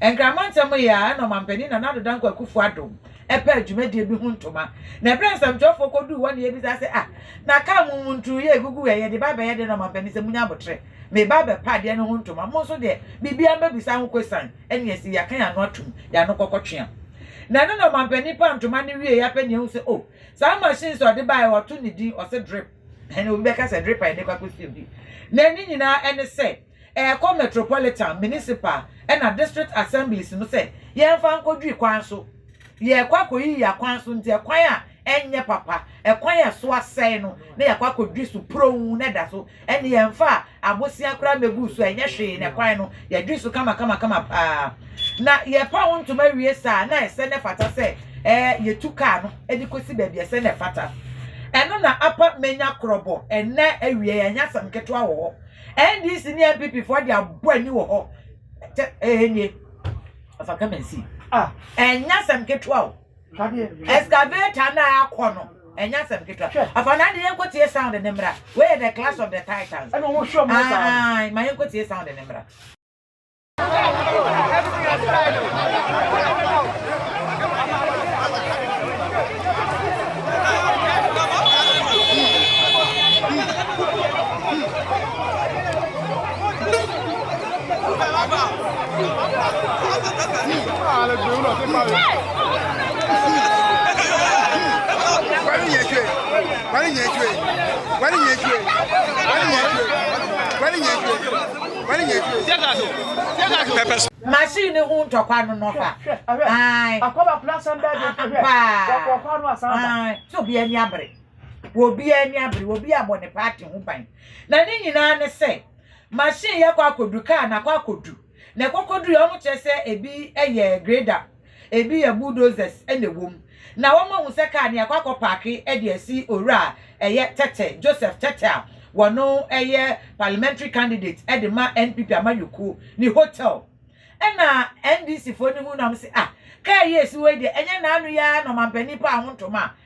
Nkramantam yi ara na Ɔmanpanin Nana Addo Dankwa Akufo-Addo pɛɛ dwumadie bi ho ntoma, na ɛberɛ a nsɛmtwerɛfoɔ kɔduu hɔ na yɛbisa sɛ, Ah, na kaa mo mu nturo yi a ɛgugu ɛ, yɛde ba abɛyɛ dɛn na Ɔmanpanin sɛ, Monya aboterɛ, meba abɛpɛ adeɛ no ho ntoma, mo nso deɛ, biribiara mɛbisa ho kwesian, ɛnneɛ ɛsɛ yɛaka yɛn ano atom, yɛn ano kɔkɔtwea. Na ɛno na Ɔmanpanin paa ntoma no wieeɛ apɛ nea ahu sɛ, Oh, saa machines a ɔde baeɛ, wɔto ne din, ɔse drip. Ɛnna obi bɛka sɛ, Drip a yɛde rekɔ akɔsi obi. Na ne nyinaa ne sɛ, ɛrekɔ metropolitan, municipal, ɛnna district assemblies no sɛ yɛmfa nkɔdwiri kwan so. Yɛrekɔ akɔyiyi akwan so nti, ɛkwan a ɛnyɛ papa, ɛkwan a ɛso asɛe no na yɛakɔ akɔdwiri so puronn na ɛda so. Ɛnneɛ yɛmfa Abosea koraa mmeguu so a ɛnyɛ hwee na ɛkwae no, yɛdwee so kamakamakama paa. Na yɛrepa ho ntoma wie saa a, na ɛsɛ na ɛfata sɛ yetu kaa no de kosi baabi a ɛsɛ na ɛfata. Ɛno na apa manya korɔbɔ ɛnnɛ awiei a, ɛnyɛ asɛm ketewa wɔ hɔ. NDC ne NPP foɔ de abɔ ani wɔ hɔ. Kyɛ ɛɛ nie. Afa come and see. Ah, ɛnyɛ asɛm ketewa o. Excavator na akɔ no ɛnyɛ asɛm ketewa afa na de yɛnkɔ tie sound ne mmra wei yɛ the class of the titans ɛna wɔn hwɛ wɔn saa ma yɛnkɔ tie sound ne mmra. Machine no ho ntɔkwa no no fa. Ae. Ampaa. Ae. Sɛ obiara ani abere. Obiara ani abere. Obiara abɔ ne party ho ban. Na ne nyinaa ne sɛ machine yɛ kɔ akɔdu, car na kɔ akɔdu. Na ɛkɔkɔdu yɛ wɔn kyerɛ sɛ ebi yɛ grader, ebi yɛ bulldozers na ɛwɔ mu. Na wɔn ahu sɛ car no yɛakɔ akɔ paake de asi owura a ɛyɛ Tete, Joseph Tete a wɔno yɛ parliamentary candidate de ma NPP amanyɔkuo ne hotel. Ɛna NDC foɔ no hu na wɔn se ah, car yi a ɛsi hɔ yi deɛ ɛnyɛ n'ano yi ara na ɔmampanin paa ho ntoma a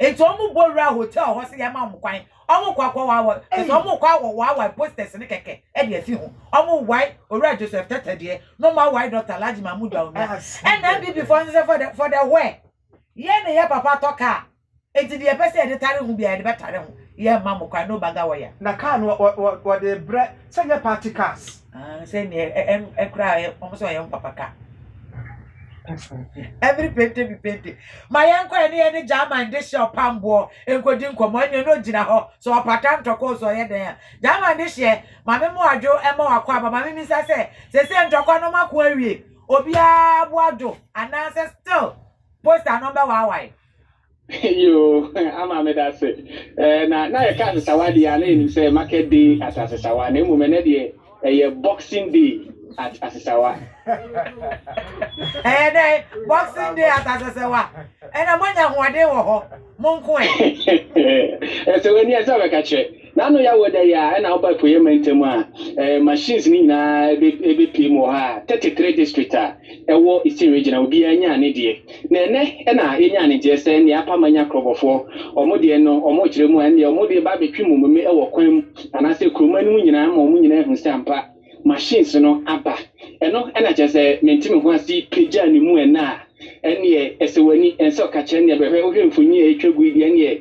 Enti wɔn bɔ wura hotel hɔ sɛ yɛma wɔn kwan. Wɔn kɔ akɔ wawa. Sɛ wɔn kɔ awɔ wawa posters ne kɛkɛ ɛde afi ho. Wɔn wae owura Joseph Tete deɛ. Na wɔn awae Doctor Alhaji Mahmood Bawumia. Ɛna NPP foɔ nso sɛ for the for the where. Yɛn ne yɛ papa atɔ kaa. Enti deɛ yɛpɛ sɛ yɛde tare ho biara yɛde bɛtare ho. Yɛmma wɔn kwan. No bagger wire. Na kaa no wɔde brɛ sɛ nyɛ party cars. Ah sɛ neɛ ɛ ɛm ɛkora ɛ wɔn sɛ ɔyɛ wɔn papa ka. Every pente bi pente. Ma yɛn kɔ ɛne ɛne German de hyɛ ɔpamboɔ nkodi nkɔmɔ ɛne ɛne ogyina hɔ sɛ ɔpata ntɔkɔ sɛ ɔyɛ dɛn a. German de hyɛ maame mo adwo ɛma wakɔ aba maame mi nsa sɛ sese ntɔkwa no mako awie obiara bo adwo anaasɛ still poster no ɔbɛwaawae. Yoo ama me da se. Eh, na na yɛka asesawa deɛ a na yɛnim sɛ market day at asesawa na mmom ɛnɛ deɛ ɛyɛ boxing day at asesawa. Ɛyɛ dɛn? Boxing day at asesawa? Ɛnna moanya ahoɔden wɔ hɔ, mo nko ɛ. Ɛsɛ w'ani a ɛsɛ ɔbɛka kyerɛ. N'ano yɛ awo dɛ yi ara na ɔba Apueɛ Mantam a ɛɛ machines no nyinaa ɛbɛ ɛbɛpue mu wɔ ha a, 33 district a ɛwɔ Eastern Region a obiara nyaa ne deɛ. Na ɛnnɛ na yɛnyaa ne nteɛ sɛ nea apa manya Krɔbɔfoɔ wɔn deɛ no wɔn rekyerɛ mu a ɛndeɛ wɔn de reba abɛtwe mmomeme wɔ kwan mu anaasɛ kuroma no mu nyinaa ma wɔn nyinaa ahu sɛ ampa machines no aba. Ɛno na kyerɛ sɛ mente me ho ase pagyaa ne mu ɛnnɛ a, ɛnneɛ ɛsɛ w'ani ɛnsɛ ɔka kyerɛ nneɛ bɛhwɛ. Wohwɛ mfoni a ɛtwa gu yi deɛ ɛnneɛ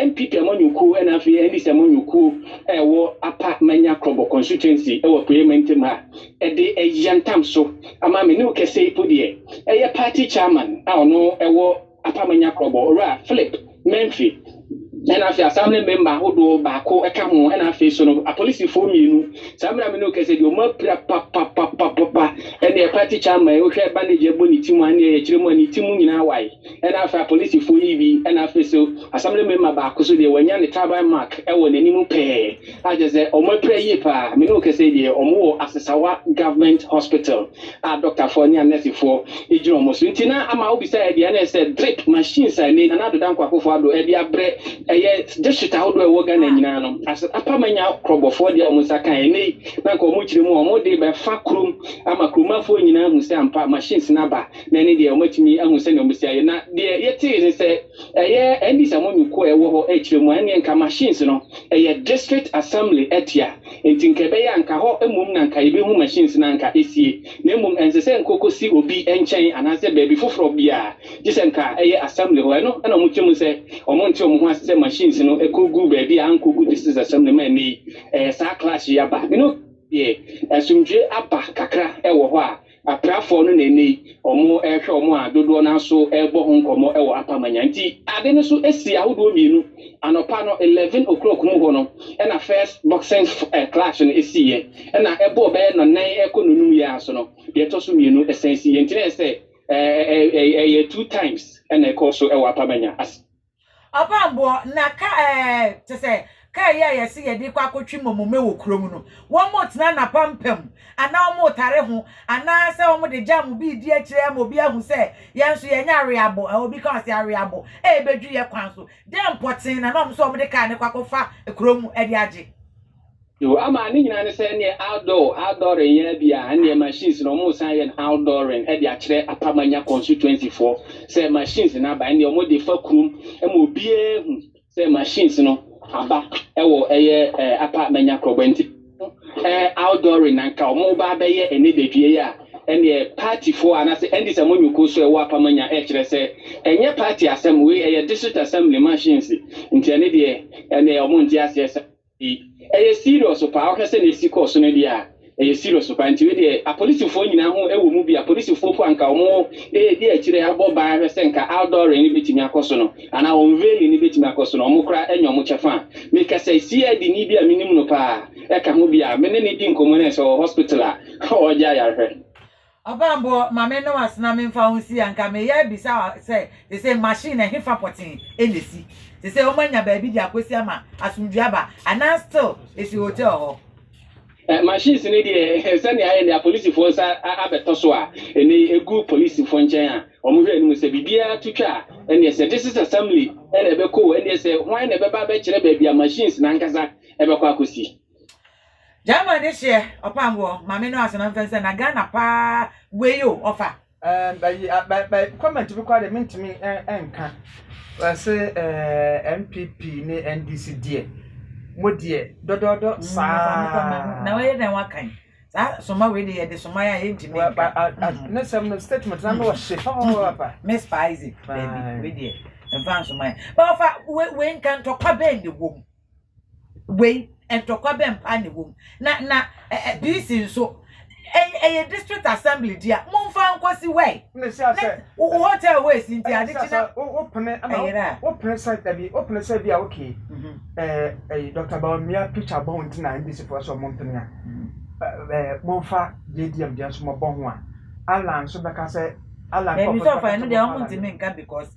NPP amanyɔkuo ɛna afei NDC amanyɔkuo a ɛwɔ Apa Manya Krɔbɔ constituency ɛwɔ Apueɛ Mantam ha ɛde ɛyantam so ama me ne wo kɛsɛ yi po deɛ ɛyɛ party chairman a ɔno ɛwɔ Apam Anyakorɔbɔ, Owura Philip Memphi, ɛna afei asan ne memba ahodoɔ baako ka ho, ɛna afei nso no apolisifoɔ mmienu. Saa mmerɛ a me ne wo kasa yi deɛ wɔn apira papapapapa, ɛna yɛ party chairman yi wohwɛ bandage ɛbɔ ne ti mu a ne yɛ kyerɛ mu a ne ti mu nyinaa wae, ɛna afei apolisifoɔ yi bi, ɛna afei nso assembly member baako nso deɛ wɔanya ne tribal mark ɛwɔ n'anim pɛɛ. Ah kyerɛ sɛ ɔmo apira yie paa. Me ne wo kasa yi deɛ ɔmo wɔ Asesawa government hospital a doctor foɔ ne a nurse foɔ gyina ɔmo so nti na ama wo bisa yɛ deɛ ɛne sɛ drip machines a ɛnɛ Nana Addo Dankwa Akufo Addo ɛde abrɛ ɛyɛ district ahodoɔ ɛwɔ Ghana nyinaa no asɛ apa manya korɔbɔ foɔ deɛ ɔmo nsa kan ɛnɛ yi na nka ɔmo kyerɛ mu a ɔmo de bɛfa kurom ama kuromafoɔ nyinaa ahu sɛ ampa machines no aba na ɛne deɛ ɔmo atumi ahu sɛnea ɔmo si ayɛ na deɛ yɛtee ne sɛ ɛyɛ ɛndis amonyukuo a ɛwɔ hɔ ɛkyerɛ mu a ɛneɛ nka machines no Ɛyɛ district assembly atua, nti nka ɛbɛyɛ a nka hɔ mmom na nka yɛbɛhu machines no a nka ɛsie, na mmom ɛnsɛ sɛ nka ɔkɔsi obi nkyɛn anaasɛ baabi foforɔ biara, gye sɛ nka ɛyɛ assembly hɔ. Ɛno na wɔkyɛ mu sɛ wɔnte wɔn ho ase sɛ machines no kɔgu baabi a ankɔgu district assembly ma ɛnnɛ yi ɛyɛ saa clash yi aba. Mene obi a meyɛɛ, asomdwoeɛ aba kakra wɔ hɔ a. Aprafɔɔ no na ɛnnɛ yi ɔmo rehwɛ ɔmo a dodoɔ no ara so rebɔ ho nkɔmmɔ wɔ Apamanya. Nti ade no so si ahodoɔ mmienu. Anɔpa no eleven o'clock mu hɔ no na first boxing clash no siiɛ. Ɛna ɛbɔɔ bɛyɛ nnɔnan rekɔ nnɔnum yi ara so no deɛ ɛtɔ so mmienu san siiɛ. Nti na ɛyɛ sɛ ɛyɛ two times na ɛkɔɔ so wɔ Apamanya. Ɔbammɔfoɔ, na ka ɛɛ, te sɛ, kaa yi a yɛse yɛde rekɔ akɔtwe mmomome wɔ kurom no, wɔretena n'apampam, anaa wɔretare ho, anaasɛ wɔde gyam bi redi akyire ama obi ahu sɛ yɛn nso yɛnyɛ aweabo, a obi ka ɔse aweabo, ɛrebɛdwi yɛ kwan so. Dɛn pɔtee na na wɔn nso wɔde kaa no kɔ akɔfa kurom de agye? Yoo ama ne nyinaa ne sɛ ɛneɛ outdoor outdooring yɛa biaa ɛneɛ machines no ɔmo san yɛ no outdooring ɛde akyerɛ Apamanya constituency foɔ sɛ machines no aba ɛneɛ ɔmo de fa kurom ma obiaa hu sɛ machines no aba ɛwɔ ɛyɛ ɛɛ Apa Manya Kroboa nti ɛɛ outdooring na nka ɔmo ba abɛyɛ ɛnɛ dadwie yi a ɛneɛ party foɔ anaasɛ ɛndis a monyoko so ɛwɔ Apamanya ɛkyerɛ sɛ ɛnyɛ party asɛm wei ɛyɛ district assembly machines nti ɛne deɛ ɛneɛ ɔmo nte aseɛ saa. Ei ɛyɛ serious paa wohwɛ sɛnea esi kɔɔ so no deɛ a ɛyɛ serious paa nti wei deɛ apolisifoɔ nyinaa ho ɛwɔ mu bi apolisifoɔ mpo anka wɔn ɛredi akyire abɔ ban ahwɛ sɛ nka outdooring no bɛtumi akɔ so no anaa unveiling no bɛtumi akɔ so no wɔn koraa ɛnyɛ wɔn kyɛfa a mekasa CID ni bi a menim no paa ɛka ho bi a me ne ne di nkɔmmɔ no ɛsɛ ɔwɔ hospital a ɔregye ayarehwɛ. Ɔbɔambɔ, ma me no asena me mfa wo nsi a nka me yɛ bisa wo sɛ sesei machine ɛhefa pɔtee ɛna ɛsi sesei ɔmo anya baabi de akɔsi ama asomdwie aba anaa still ɛsi hotel hɔ. Eh, machines no deɛ eh, sɛnea ayɛ nea polisifoɔ nsa abɛtɔ so a ɛnɛ yi ɛgu polisifoɔ nkyɛn a wɔn hwɛ anim sɛ biribiara to twa a ɛneɛ sɛ district assembly ɛna ɛbɛkɔ o ɛneɛ sɛ hwan na ɛbɛba abɛkyerɛ baabi a machines no ankasa ɛbɛkɔ akɔsi. Gyama ne hyeɛ ɔpamboɔ maame no asena mfɛn sɛ na Ghana paa wei o ɔfa. Ɛɛ bɛyi a bɛ bɛ comment bi koraa deɛ mentumi ɛ nka wɔse ɛɛ NPP ne NDC deɛ mo deɛ dɔdɔɔdɔ saa. Na wɔyɛ dɛn wakan saa soma wei deɛ yɛde soma yɛ a yɛntumi nka. Ne sɛm no statement na no ɔhye papaapa. Me spicy baabi wei deɛ mfa nsoma yɛ ba ɔfa wei nka ntɔkwa bɛn na ɛwɔ mu. Wei, ntɔkwa bɛn paa na ɛwɔ mu? Na, na, ɛ, ɛ, DC nso, ɛ, ɛyɛ district assembly di a, momfa nkɔ si wɛe. Na ɛhyia sɛ. Na, wo hotel wei si nti ade kye na. Wopene, ɛna wo, wopene sɛ dabi, wopene sɛ bi a okay, ɛ, ɛ, Dɔkta Bawumia picture bɔ ho nti na NDC foɔ sɛ wɔmpene a, ɛ, ɛ, momfa JDM deɛ nso mɔbɔ ho a, Allan nso bɛka sɛ, Allan nkorɔfoɔ nso bɛka sɛ wɔmfa Allan deɛ. Dabi, sɛ ɔfa ɛno deɛ wɔntumi nka because.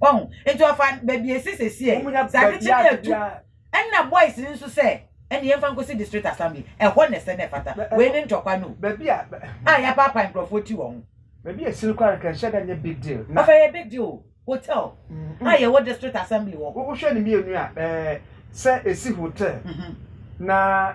wɔn nti ɔfa baabi esi sisi ɛ sakiti na etu ɛna boys nso sɛ ɛna yɛn fa nkosi district assembly ɛhɔ na ɛsɛ na ɛfata wei ne ntɔkwa no baabi a a yɛapaapa nkurɔfoɔ ti wɔn baabi a esini kora nka nhyɛ dɛ nyɛ big deal na ɔfɛ yɛ big deal hotel a yɛwɔ district assembly wɔ wohwɛ ne mmienu a ɛɛ sɛ esi hotel na.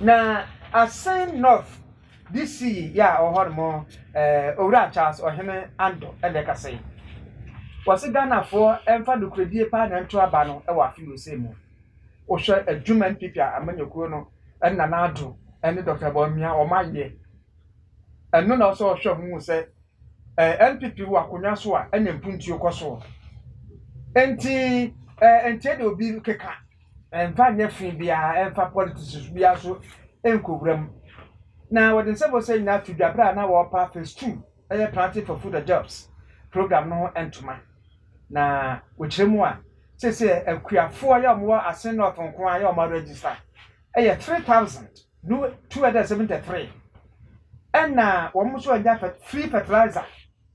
Na Asin North DC yi a ɔwɔ hɔnom eh, Owura Charles Ɔhene Ando ɛna ɛkasa yi. Wɔse Ghanafoɔ ɛmfa nokorɛdie paa na ɛnto aba no ɛwɔ afe wei sei mu. Wohwɛ adwuma NPP a amanyɔkuo no ɛne Nana Addo ɛne Doctor Bawumia wɔn ayɛ. Ɛno na ɔsɛ ɔhwɛ ho hu sɛ eh, NPP wɔ akonnwa so a ɛna mpuntuo kɔ soɔ. Enti eh, ɛnteɛ deɛ obi keka. Ɛmfa nyɛ fi biara, ɛmfa politics biara nso nkowura mu. Na wɔde nsɛm a wɔsɛ nyinaa fi dwa bere a na wɔrepa Phase Two, ɛyɛ Planting for Food and Jobs program no ho ntoma. Na wɔkyerɛ mu a, seesei akuafoɔ yi a wɔwɔ Asin North nko ara a wɔaregister yɛ three thousand ne two hundred and seventy three, ɛnna wɔn nso anya free fertilizer.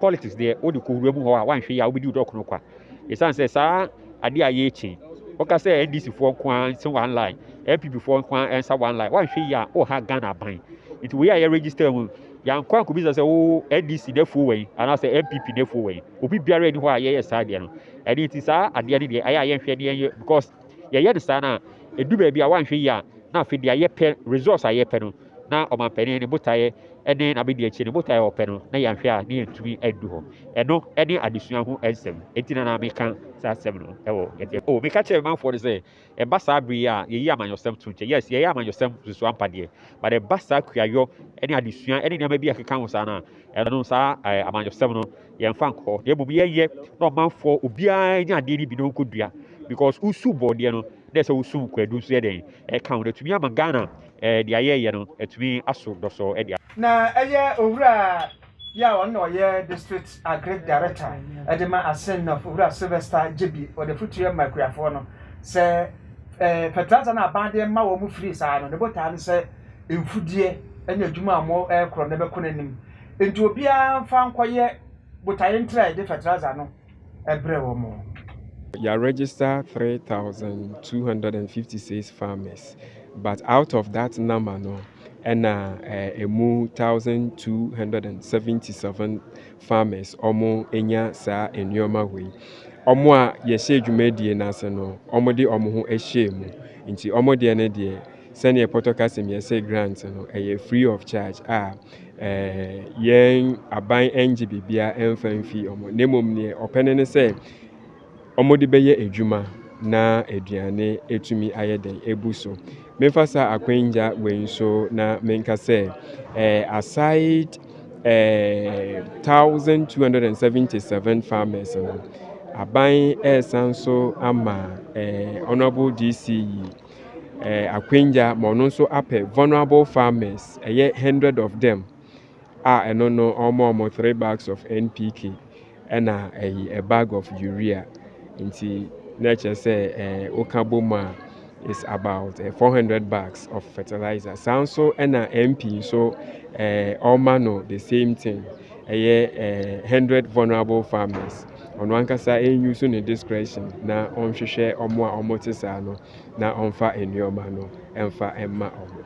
Politics deɛ wode kɔwura mu hɔ a woanhwɛ yie a wobɛdi wo dɔ kono kwa. Ɛsiane sɛ saa adeɛ a yɛrekyi yi, woka sɛ NDC foɔ nko ara nse one line, NPP foɔ nko ara nsa one line, woanhwɛ yie a woha Ghana aban. Nti wei a yɛ register mu no, yɛankɔ ankɔbisa sɛ wo NDC nafuo wɛn anaasɛ NPP nafuo wɛn. Obi biara nni hɔ a yɛyɛ saa deɛ no. Ɛno nti saa adeɛ no deɛ ayɛ a yɛnhwɛ ne yɛnyɛ because yɛyɛ no saa no a, ɛdu baabi a woanhwɛ yie a na afei deɛ yɛpɛ, results a yɛpɛ no, na ɔmanpanin ne botaeɛ ne n'abadiakyire ne botaeɛ a ɔpɛ no na yɛanhwɛ a na yɛntumi andu hɔ. Ɛno ne adesua ho nsɛm. Enti na na meka saa asɛm no wɔ yɛde. O, meka kyerɛ me manfoɔ no sɛ, ɛba saa bere yi a yɛyi amanyɔsɛm to nkyɛn. Yes, yɛyɛ amanyɔsɛm nso ampa deɛ, but ɛba saa kuayɔ ne adesua ne nneɛma bi a ɛkeka ho saa no a, ɛno saa eh, amanyɔsɛm no yɛmfa nkɔ, na mmom yɛnyɛ na ɔmanfoɔ obiara nya adeɛ no bi na ɔnkɔdua because wosu bɔɔdeɛ no na ɛsɛ wosum kwadu nso yɛ dɛn ɛka ho na atumi ama Ghana Deɛ ayɛeɛ no atumi aso dɔsɔɔ de a. Na ɛyɛ Owuraa yi a ɔno na ɔyɛ District Agric Director de ma Asen North, Owura Sylvester Gyebi, ɔde afotuo ma akuafoɔ no sɛ fertilizer no a aban de rema wɔn firi saa no, ne botaa ne sɛ mfudeɛ ne adwuma a wɔrekoro no bɛkɔ n'anim. Enti obiara mfa nkɔyɛ botaeɛ ntrae de fertilizer no. brɛ wɔn. Yɛ register three thousand two hundred and fifty six farmers but out of that number no ɛna ɛmu one thousand two hundred and seventy seven farmers ɔmo nya saa nneɛma wei ɔmo a yɛhyɛ dwumadie no ase no ɔmo de ɔmo ho ɛhyɛ mu nti ɔmo deɛ no deɛ sɛdeɛ pɔtɔ kasim yɛsɛ grant no ɛyɛ free of charge a Ɛɛ, yɛn aban nnye biribiara mfa mfi wɔn, na mmom nea wɔpɛ no ne sɛ wɔde bɛyɛ adwuma na aduane atumi ayɛ dɛn? Abu so. Memfa saa akwangya wei nso na menka sɛ, ɛɛ, aside ɛɛ, thousand two hundred and seventy seven farmers no, aban resan nso ama ɛɛ, Honourable DC yi, eh, akwangya ma ɔno nso apɛ vulnerable farmers, ɛyɛ hundred of them a ɛno no ɔmo ɔmo three bags of NPK ɛna ɛyi a bag of urea nti na ɛkyerɛ sɛ ɛɛ eh, woka bɔ mu a is about eh, 400 bags of fertilizer saa nso ɛna MP nso ɛɛ eh, ɔma no the same thing ɛyɛ eh, hundred vulnerable farmers. ɔno ankasa use ne discretion na ɔnhwehwɛ wɔn a wɔte saa no na ɔmfa nneɛma no mfa mma wɔn.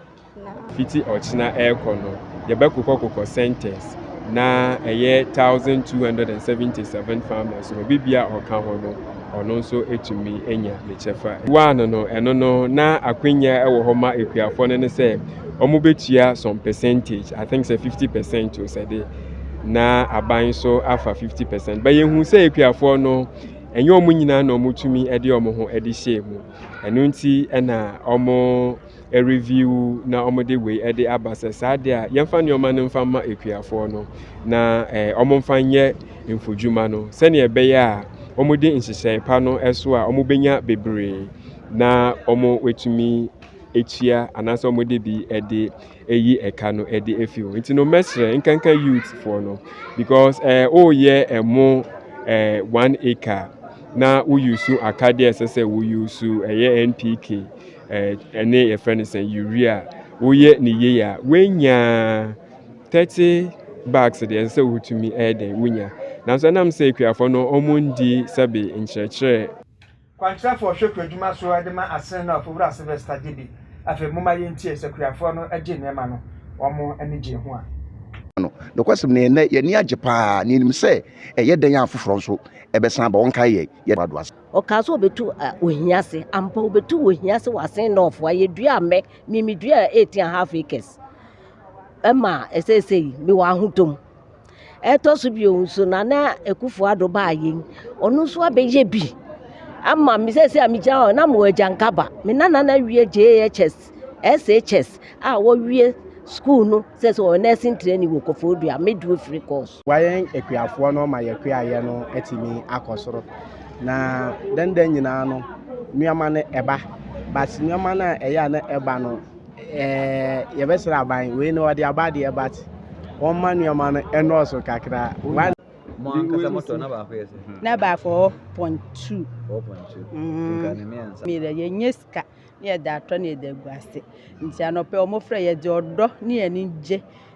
Fiti ɔkyena ɛrekɔ no, yɛbɛkokɔkokɔ centers na ɛyɛ 1,277 farmers no, obi bia ɔka ho no, ɔno nso etumi anya ne kyɛfa. One no, ɛno no, na akwanya ɛwɔ hɔ ma akuafoɔ no ne sɛ wɔn bɛtua some percentage, I think sɛ 50 percent o sɛ de. na aban nso afa 50 percent. But yɛhu sɛ akuafoɔ no, ɛnyɛ wɔn nyinaa na wɔtumi de wɔn ho de hyɛɛ mu. Ɛno nti na wɔn review na wɔde wei de aba sɛ saa deɛ a yɛmfa nneɛma no mfa ma akuafoɔ no na eh, wɔmfa nyɛ mfodwuma no sɛnea ɛbɛyɛ a wɔde nhyehyɛe pa no so a wɔbɛnya bebree na wɔatumi atua anaasɛ wɔde bi de ɛyi ɛka no ɛde afi hɔ nti no mɛsrɛ nkanka youth foɔ no because ɛɛ eh, woyɛ ɛmo eh, ɛɛ eh, one acre na woyusu akadeɛ ɛsɛ sɛ woyusu ɛyɛ npk ɛɛ ɛne yɛfrɛ no sɛ urea woyɛ ne yie a wonya thirty bags deɛ ɛsɛ sɛ wotumi ɛyɛ dɛn wonya nanso ɛnam sɛ akuafoɔ no wɔn ndi sɛbi nkyerɛkyerɛ Kwankyerɛfoɔ hwɛ kuadwuma so de ma Asene no a Ofiwura Sylvester gye bi. Afei momma yɛntie sɛ kuafoɔ no gye nneɛma no wɔn ani gyee ho a. Ma no. Nokwasɛm ni, ɛnnɛ yɛn ani agye pa ara, na yɛnim sɛ ɛyɛ dɛn a afoforɔ nso bɛsan aba. Wɔnkae yɛn. Yɛda w'ado ase. Ɔkaa sɛ ɔbɛtu ohia ase. Ampa, ɔbɛtu ohia ase wɔ Asene North hɔ. Yɛduaa mmɛ. Me, meduaa eight and half acres ma seesei mewɔ ahotɔ mu. Ɛtɔ so bio nso, Nana Akufo-Addo baa yei, ɔno nso abɛyɛ bi ama me. Seesei a megyina hɔ na mewɔ agyankaba. Me nana no awie JHS, SHS a wɔawie sukuu no sɛ sɛ ɔyɛ nursing training wɔ Koforidua midwifery course. Boa yɛn akuafoɔ no ma yɛakuayɛ no atumi akɔ soro. Na dɛndɛn nyinaa no, nneɛma no ɛba. But nneɛma no a ɛyɛ a na ɛba no, Ɛɛɛɛ yɛbɛsrɛ aban wei no ɔde aba deɛ but wɔmma nneɛma no ɛnɔɔso kakra one mo ankasa motɔ na baako yɛ sɛ na baako hɔ point two hɔ point two nka ne mmiɛnsa mmiɛnsa yɛnyɛ sika ne yɛde atɔ ne yɛde agu ase nti anɔpɛ wɔn frɛ yɛde ɔdɔ ne yɛn ani gye